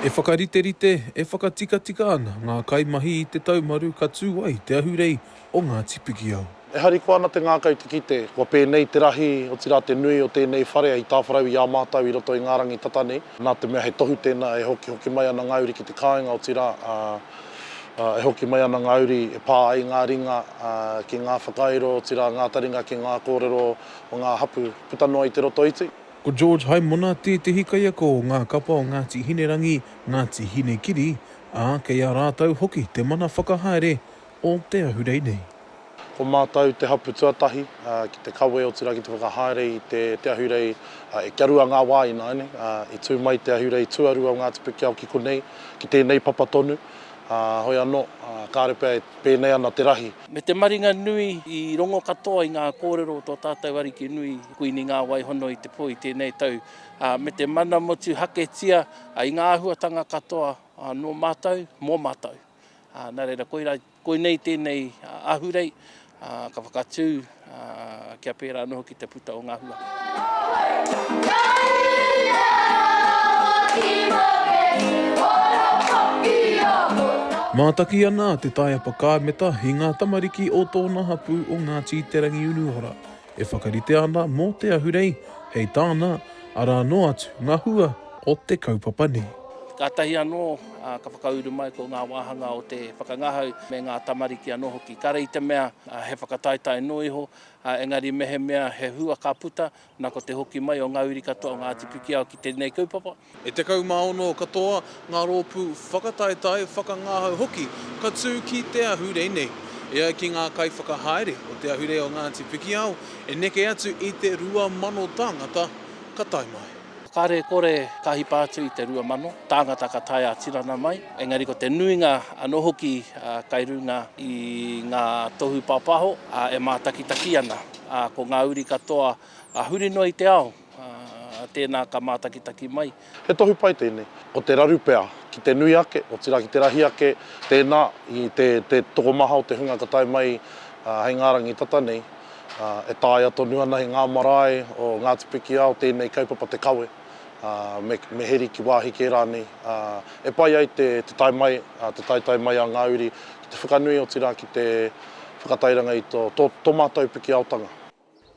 E whakariterite, e whakatikatika ana ngā kaimahi i te taumaru ka tū ai te ahurei o Ngāti Pikiao. E harikoa ana te ngākau i te kite, kua pēnei te rahi, otirā te nui o tēnei whare hei tāwharau i a mātou i roto i ngā rangi tata nei. Nā te mea he tohu tēnā e hokihoki mai ana ngā uri ki te kāinga, otirā, e hoki mai ana ngā uri e pā ai ngā ringa ki ngā whakairo, otirā, ngā taringa ki ngā kōrero o ngā hapū. puta noa i te roto iti. Ko George Haimona tētehi kaiako o ngā kapa o Ngāti Hinerangi, Ngāti Hinekiri, ā, kei a rātou hoki te mana whakahaere o te ahurei nei. Ko mātou te hapū tuatahi ki te kawe otirā ki te whakahaere i te ahurei e kia rua ngā wā ināianei. I tū mai te ahurei tuarua o Ngāti Pikiao ki konei, ki tēnei papa tonu, hoi anō, kāore pea e pēnei ana te rahi Me te maringa nui i rongo katoa i ngā kōrero o tō tātou Ariki nui, Kuini Ngāwaihono i te po i tēnei tau, ā, me te mana motuhaketia i ngā āhuatanga katoa nō mātou, mō mātou. Nā reira, koirā, koinei tēnei ahurei, ka whakatū. kia pērā noho ki te puta o ngā hua. Mātaki ana a Te Taiapa Kāmeta i ngā tamariki o tōna hapū o Ngāti Te Rangiunuora e whakaritea ana mō te ahurei hei tāna, arā noa atu ngā hua o te kaupapa nei. Kātahi anō ka whakauru mai ko ngā wāhanga o te whakangahau me ngā tamariki anō hoki. Kare i te mea He whakataetae noa iho, engari mehemea he hua ka puta, na ko te hoki mai o nga uri katoa o Ngati Pikiao ki tenei kaupapa. E 16 katoa nga roopu whakataetae, whakangahau hoki ka tu ki te ahurei nei. E ai ki nga kaiwhakahaere o te ahurei o Ngati Pikiao, e neke atu i te 2,000 tangata ka tae mai. Kāre kore ka hipa atu i te rua mano tāngata ka tae ā-tinana mai, engari ko te nuinga anō hoki kai runga i ngā tohu pāpāho e mātakitaki ana. Ko ngā uri katoa huri noa i te ao, tēnā ka mātakitaki mai. He tohu pai tēnei, ko te raru pea ki te nui ake, otirā ki te rahi ake, tēnā i te tokomaha o te hunga ka tae mai hei ngā rangi tata nei. E taea tonu ana e ngā marae o Ngāti Pikiao tēnei kaupapa te kawe, me heri ki wāhi kē rānei e pai ai te tae mai, te taetae mai a ngā uri ki te whakanui otirā ki te whakatairanga i tō mātou Pikiaotanga.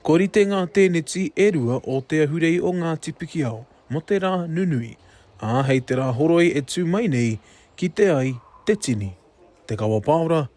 Kua rite ngā tēneti e rua o Te Ahurei o Ngāti Pikiao mō te rā nunui, ā, hei te rā horoi e tū mai nei, kite ai te tini, te kawa pāora,